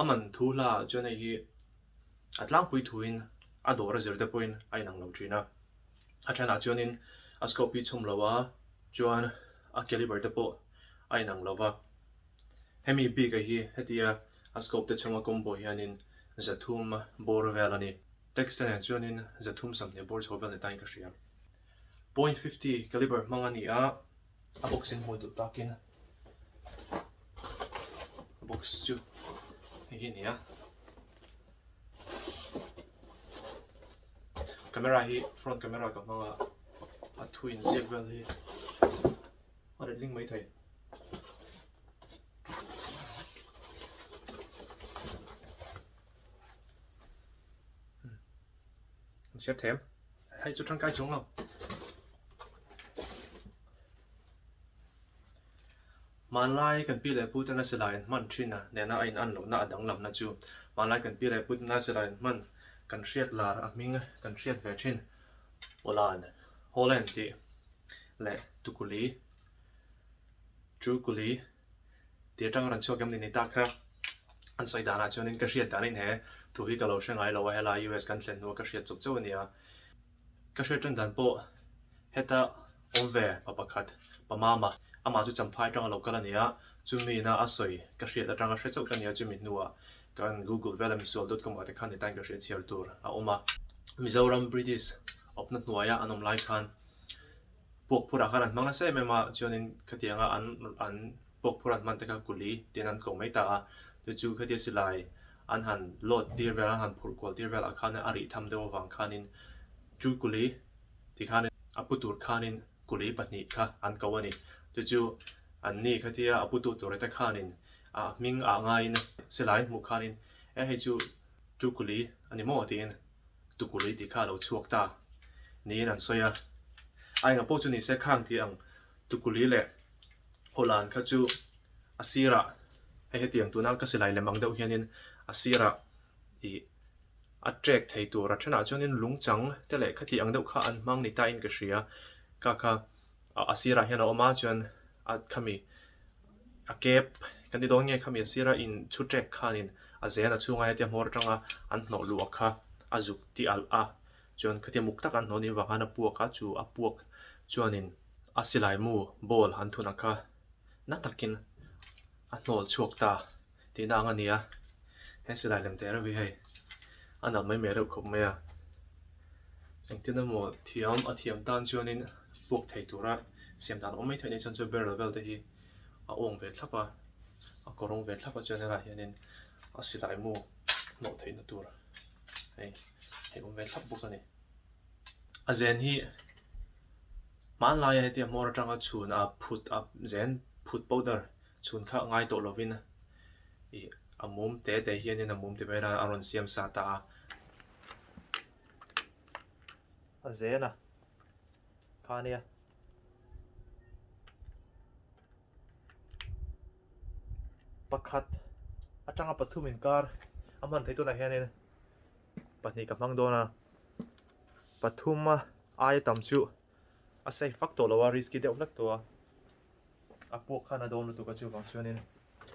a man thu hla chuan hei hi a tlangpui thuin a dawr a zir te pawhin a inang lo thin a, a thenah chuanin a scope hi chhum loa chuan a caliber te pawh a inang lo va, hemi bikah hi hetia a scope te chhunga combo hianin zathum bawr vel a ni. Text te nen chuanin zathum sam hneh bawr chho vel ni tain ka hria, point fifty caliber hmang a ni a, a box in hmuh duh tak in box chu hei hi nia camera hi front camera ka hmanga a thu in ziak vel hi a ret ling mai thei An siam thém. Hei chu tangkai chhung lo. Hmanlai kan pi leh pute nasa la in hman thin a nena a in an lohna a danglam na chu hmanlai kan pi leh pute nasa la in hman kan hriat lar a hming kan hriat ve thin Poland Holland tih leh Tukuli Trukuli Tih atanga rawn chhuak em ni ni ta kha an sawi danah chuanin ka hriat dan inhe thu hi ka lo hre ngai lo a helai US kan thlen hnu a ka hriat chauh chauh a ni a ka hriat tan dan pawh heta awm ve pa pakhat pa mama amah chu champha atang a lo kal a ni a chumi na a sawi ka hriat atanga hre chauh ka nia chumi hnu ah ka rawn Google vel a misual dot com ah te khan nitain ka hriat chhiar tur a awm a Mizoram British awpna hnuaia an awm lai khan. Puak phurah khan an hmang nasa em em a, chuanin khatiang a an an puak phur an hman te kha kuli tiin an kawng mai ta a, chu chu khatia silai an han load tir vel an han phurh kual tir velah khan a rih tham deuh avang khanin chu kuli ti khanin a pu tur khanin kuli pahnih kha an ko a ni, chu chu an ni khatia a putu tur te khanin a hming ah ngaiin silai an hmuh khanin e hei chu chu kuli a ni maw tiin Tukulei tih kha a lo chhuak ta, niin an sawi a. A engah pawh chu ni se khang tih ang, Tukuli leh Hawlan kha chu a sirah, hei hetiang tuna an kasilai lem ang deuh hianin a sirah ih a trek thei tur a ṭhenah chuanin Lungchang te leh khati ang deuh kha an hmang ni tain ka hria. Ka kha. A sirah hian a awm a chuan a khami a kep kan ti dawn nge khami a sira in chhu ṭek khanin a zen a chhunga hetia hmawr aṭanga an hnawh luh a kha a zuk tih alh a chuan khatiang muk tak an hnawh nih vangah a puak a chu a puak chuanin a silai mu ball an thun a kha na takin a hnawlchhuak ta. Tihna ang a nia, he silai lem teh reuh hi hei a nalh mai meh reuh khawp mai a, engtin emaw thiam a thiam tan chuanin buak thei tura siam dan awm mai theih ni chuan chu barrel vel te hi a awng ve thlap a, a kaw rawng ve thlap a chuan helaiah hianin a silai mu hlawh theih na tur hei hei awm ve thlap bawk a ni. A zen hi hmanlaia hetiang hmawr atanga chhun a phut a zen phut powder. Chhun kha ngai tawh lovin i a mum te te hianin a mum ti mai nan a rawn siam sa ta a. A zen a kha nia. Pakhat atanga pathum inkar a hman thei tunah hianin pahnih ka hmang dawn a. Pathuma aia tam chu a safe vak tawh lo a risky deuh hlat tawh a. a puak khan a dawn lutuk a chuvang chuanin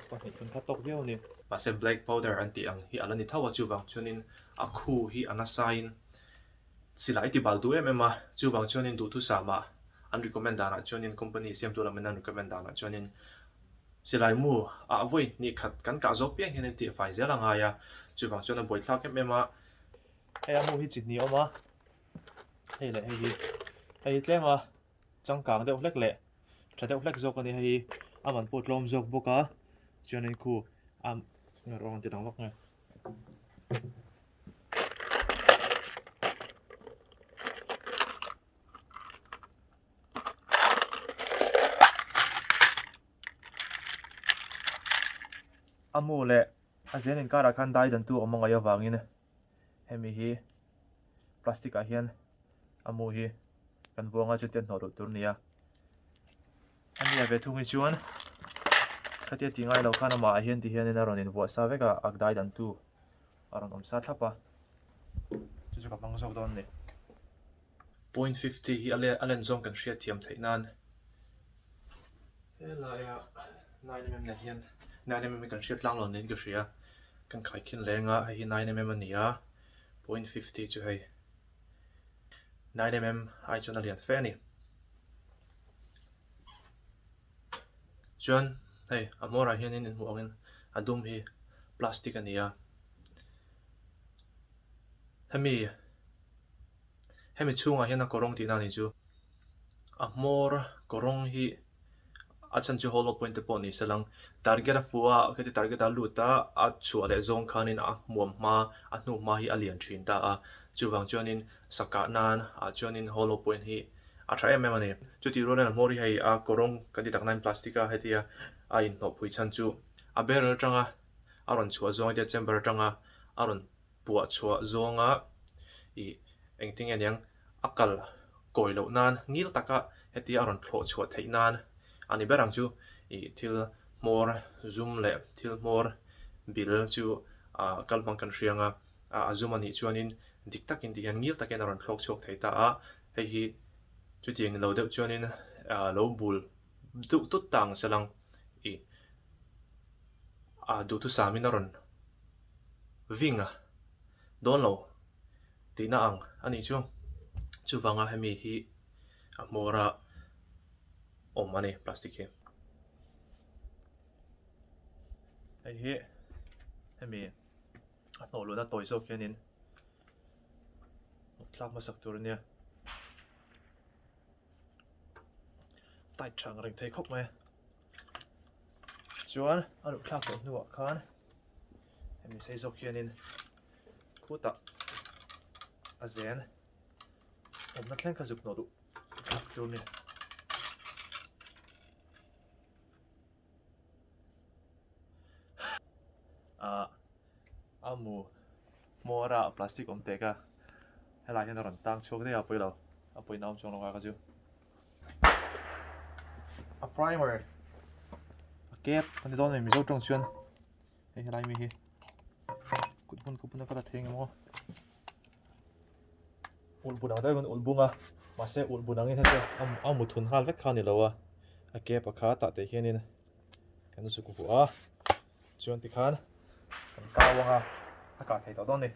pahnih thun kha tawk viau a ni. Mahse black powder an tih ang hi a la ni tho a, chuvang chuanin a khu hi a nasaiin sila i ti bal duh em em a, chuvang chuanin duhthusama an recommend danah chuanin company siamtu lam in an recommend danah chuanin silaimu a vawi ni khat kan kah zawk piang hianin tih fai zel a ngai a, chuvang chuan a buaithlak em em a. Hei a mu hi chi hnih awm a, hei leh hei hi, hei hi tlem a. changkang deuh hlek leh tha deuh hlek zawk a ni hei a man pawh tlawm zawk bawk a chuan in khu a ni awm ang chi dang vak nge a mu leh a zen inkar ah khan daidantu awm a ngaih avangin. Hemi hi plastic ah hian a mu hi kan buang a chutiang hnawh duh tur nia a nia ve thung hi chuan khatia ti ngai lo khan amah ah hian ti hian in a rawn in vuah sa vek a a dai dan tu a rawn awm sa thlap a chu chu ka hmang zawk dawn a ni. Point fifty hi a len zawng kan hria thiam theih nan helaiah nine mm leh hian nine mm hi kan hria tlang lo niin ka hria kan khai khin leng a hei hi nine mm a ni a point fifty chu hei nine mm ai chuan a lian fe a ni chuan hei a hmawrah hian in hmuh angin a dum hi plastic a ni a hemi. hemi chhungah hian a kawrawng tihna a ni chu a hmawr a kawrawng hi a chhan chu hollow point te pawh ni se lang target a fuh a heti target a lut a a chhuah leh zawng khanin a hmuam hma a hnu hma hi a lian thin ta a chuvang chuanin sakah nan ah chuanin hollow point hi a tha em em a ni chutih ruanin a hmawr hi hei a kawrawng kan ti tak nan plastic a hetia a inhnawhpui chhan chu a beryl atanga a rawn chhuah zawng a hetia chamber atanga a rawn puah chhuah zawnga ih engtin nge niang a kal kawi loh nan ngil taka hetia a rawn thlawh chhuah theih nan a ni ber ang chu ih thil hmawr zum leh thil hmawr bil chu ah kal hmang kan hriang a ah a zum a nih chuan in dik tak in tih hian ngil takin a rawn thlawk chhuak thei ta a hei hi chutiang lo deuh chuan in ah lo bul. duh tut ta ang selang i a duhtu samin a rawn ving a dawn lo tihna ang a nih chu. Chuvanga hemi hi a hmawra awm a ni plastic hi. Hei hi hemi a hnawh luhna tawi zawk hian in tlak hmasak tur a nia. tight tha ang reng thei khawp mai a chuan a luh thlak tawh hnuah khan hemi sei zawk hianin khutah a zen awmna thleng kha zuk hnawh duh thlak tur a ni. ah amu mawra plastic awm teh ka helai hian a rawn tang chhuak daih a pawilo a pawina awm chuang lo ka chu a primer a cap a ni dawn a mi mizo tawng chuan Hei helai mi hi kut hun khawpuna ka la theng em aw. Ul bunang deuh hun ul bunga mahse ul bunangin heti a mu thun nghal vek kha ni lo a. A ke pakha tah teh hianin kan u suk vua a. Chuan tikhan kan kau anga a kah thei tawh dawn a ni.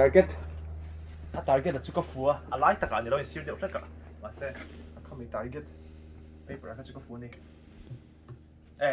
target a target a chu ka fu a a lai takah a ni lo insir deuh hlek a mahse a khami target paper ah kha chu ka fu a ni e.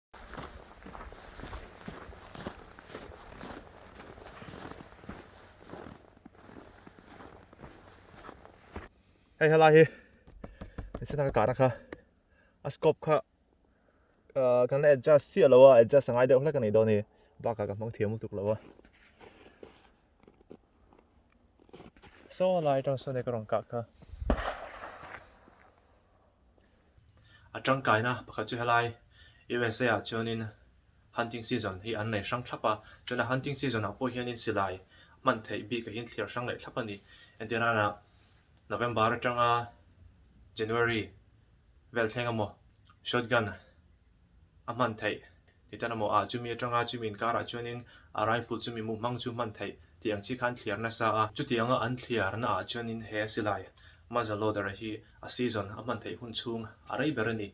hei helai hi ni se taka kahna kha a scope kha uh, kan adjust si alo a adjust angai deuh hlek ani dawn ni baka ka hmang thiam tuk lo a so lai tang so ne ka rong ka kha A tangkaina pakhat chu helai USA-ah chuanin hunting season hi an nei hrang thlap a, chuan a hunting season-ah pawh hianin silai hman theih bik a inthiar hrang leh thlap a ni. Engtin rana November atanga January vel thleng emaw shotgun a hman theih ti tan a maw a, chumi atanga chumi inkarah chuanin a rifle chu mi muhmang chu hman theih tih ang chi kha an thliar nasa a, chutianga an thliarnaah chuanin he a silai Mazaloda-ra hi a season a hman theih hun chhung a rei ber a ni.